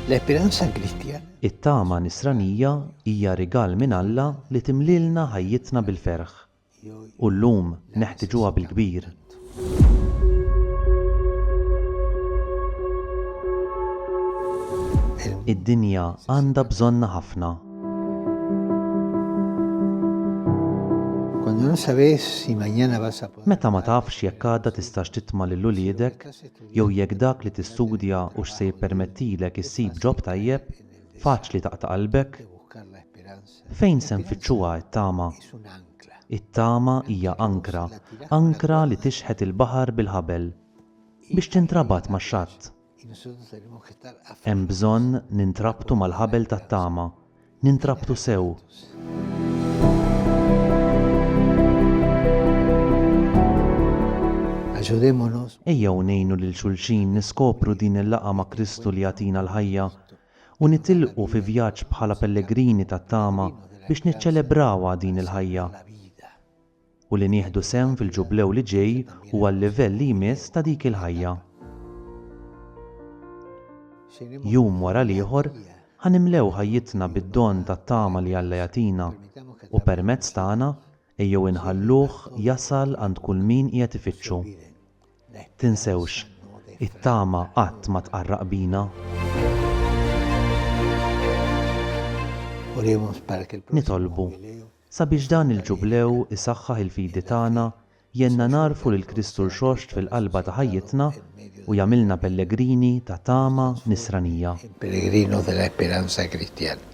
L-esperanza Kristjana. It-tama Nisranija hija rigal minn Alla li timlielna ħajjitna bil-ferħ. U llum neħtiġuha bil-kbir. Id-dinja għandha bżonnha ħafna. Meta ma tafx jekk għada tistax titma' lil uliedek jew jekk dak li tistudja hux se jippermettilek issib ġob tajjeb, faċli taqta' qalbek. Fejn se nfittxuha t-tama? It-tama hija ankra, ankra li tixħet il-baħar bil-ħabel, biex tintrabat max-xatt. Hemm bżonn nintrabtu mal-ħabel tat-tama, nintrabtu sew. Ejjew ngħinu lil xulxin niskopru din il-laqgħa ma' Kristu li jagħtina l-ħajja, u nitilqu fi vjaġġ bħala pellegrini tat-tama biex niċċelebrawha din il-ħajja. u li nieħdu sehem fil-Ġublew li ġej huwa l-livell li jmiss ta' dik il-ħajja. Jum wara l-ieħor, ħa nimlew ħajjitna bid-don tat-tama li Alla jagħtina, u permezz tagħna ejjew inħalluh jasal għand kull min qiegħed ifittxu. Tinsewx, it-tama qatt ma tqarraq bina. Nitolbu, Sabiex dan il-Ġublew isaħħaħ il-fidi tagħna, jgħinna nagħrfu lil Kristu Rxoxt fil-qalba ta' ħajjitna u jagħmilna pellegrini ta' tama Nisranija. Il Pellegrino de la Esperanza Cristiana.